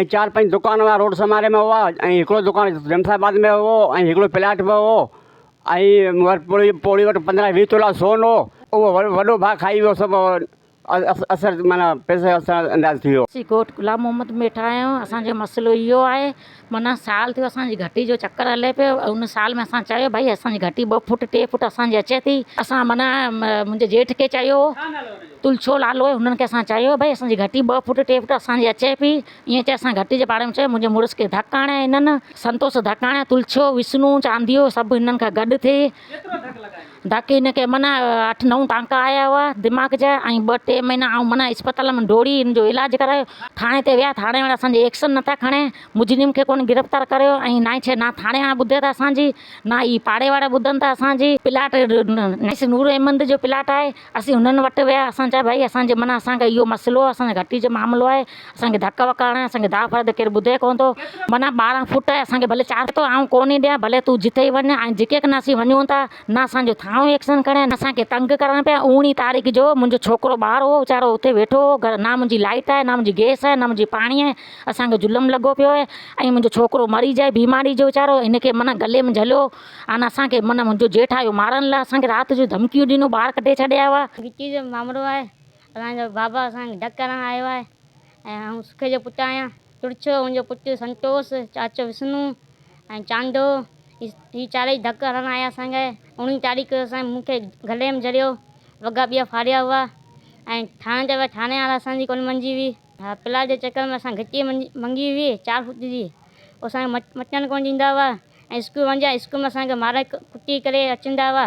۽ چار پنج دڪان هئا روڊ سماري ۾ هئا ۽ هڪڙو دڪان جمشيد آباد ۾ هو ۽ هڪڙو پلاٽ ۾ هو ۽ ورپوري پوڙهي وٽ پندرهن ويهه تولا سون هو اهو وڏو ڀاء کائي ويو سڀ اثر معنيٰ پئسي اثر انداز ٿي ويو. اسين ڳوٺ غلام محمد ۾ ويٺا آهيون اسان جو مسئلو اهو آهي معنيٰ سال ٿيو اسان جي گهٽي جو چڪر هلي پيو ان سال ۾ اسان چيو ڀائي اسان جي گهٽي ٻه فوٽ ٽي فوٽ اسان جي اچي ٿي اسان معنيٰ منهنجي جيٺ کي چيو هو تلڇو لالو ۽ هنن کي اسان چيو ڀئي اسان جي گهٽي ٻه فوٽ ٽي فوٽ اسان جي اچي پئي ائين چئي اسان گهٽي جي پاڙي ۾ چيو منهنجي مڙس کي ڌڪ آڻي ۽ هنن سنتوس ڌڪ آڻي تلڇو وسنو چانديو سڀ هنن کان گڏ ٿي ڌڪ هن کي معنيٰ اٺ نو ٽانڪا آيا هئا دماغ جا ۽ ٻه ٽي مهينا آئون معنيٰ اسپتال ۾ ڊوڙي هن جو علاج ڪرايو ٿاڻي تي ويا ٿاڻي وارا اسان جي ايڪشن نه ٿا کڻي مجرم کي ڪونه گرفتار ڪريو ۽ نائين شيء نه ٿاڻي وارا ٻڌي ٿا اسان جي نه ئي پاڙي وارا ٻڌن ٿا اسان جي پلاٽ نائين شيء نور احمد جو پلاٽ آهي اسين هنن وٽ ويا اسان چيو ڀائي اسان جي معنيٰ اسان کي اهو مسئلو آهي اسان جي گهٽي جو معاملو آهي اسان کي ڌڪ وڪ هڻي اسان کي داد فرد ڪير ٻڌي ڪونه ٿو معنيٰ ٻارهن فوٽ آهي اسان کي ڀلي چار فوٽ آئون ڪونه ڏيان ڀلي تون جتي وڃ آئون جتي ڪنهن اسين وڃون ٿا نه اسان جو ٿانو ايڪشن کڻي نه اسان کي تنگ ڪرڻ پيا اوڻيهه تاريخ جو منهنجو ڇوڪرو ٻاهر هو ويچارو اتي ويٺو هو گهر نه منهنجي لائيٽ آهي نه منهنجي گيس آهي نه منهنجي پاڻي آهي اسان کي ظلم لڳو پيو آهي ۽ منهنجو ڇوڪرو مري جائي بيماري جو ويچارو هن کي معنيٰ گلي ۾ جهليو ان اسان کي من منهنجو جيٺ آيو مارڻ لاء اسان کي رات جو ڌمڪيون ڏنو ٻاهر ڪڍي ڇڏيا هئا. گچي جو مامرو آهي اسان جو بابا اسان کي ڊڪ ڪرڻ آيو آهي ۽ آئون سکي جو پٽ آهيان ترڇو ان جو پٽ سنتوس چاچو وسنو ۽ چانڊو هي چارئي ڌڪ هڻڻ آيا اسان کي اوڻيهين تاريخ اسان مون کي گلي ۾ جهريو وڳا ٻيا ڦاڙيا هئا ۽ ٿاڻي ته ويا ٿاڻي وارا اسان جي ڪونه مڃي هئي ها پلاٽ جي چڪر ۾ اسان کي گچي منگي هئي چار فوٽ جي او اسان کي مچڻ ڪونه ڏيندا هئا. ۽ اسڪول وڃ جا اسڪول ۾ اسان کي مارئي ڪٽي ڪري اچندا هئا.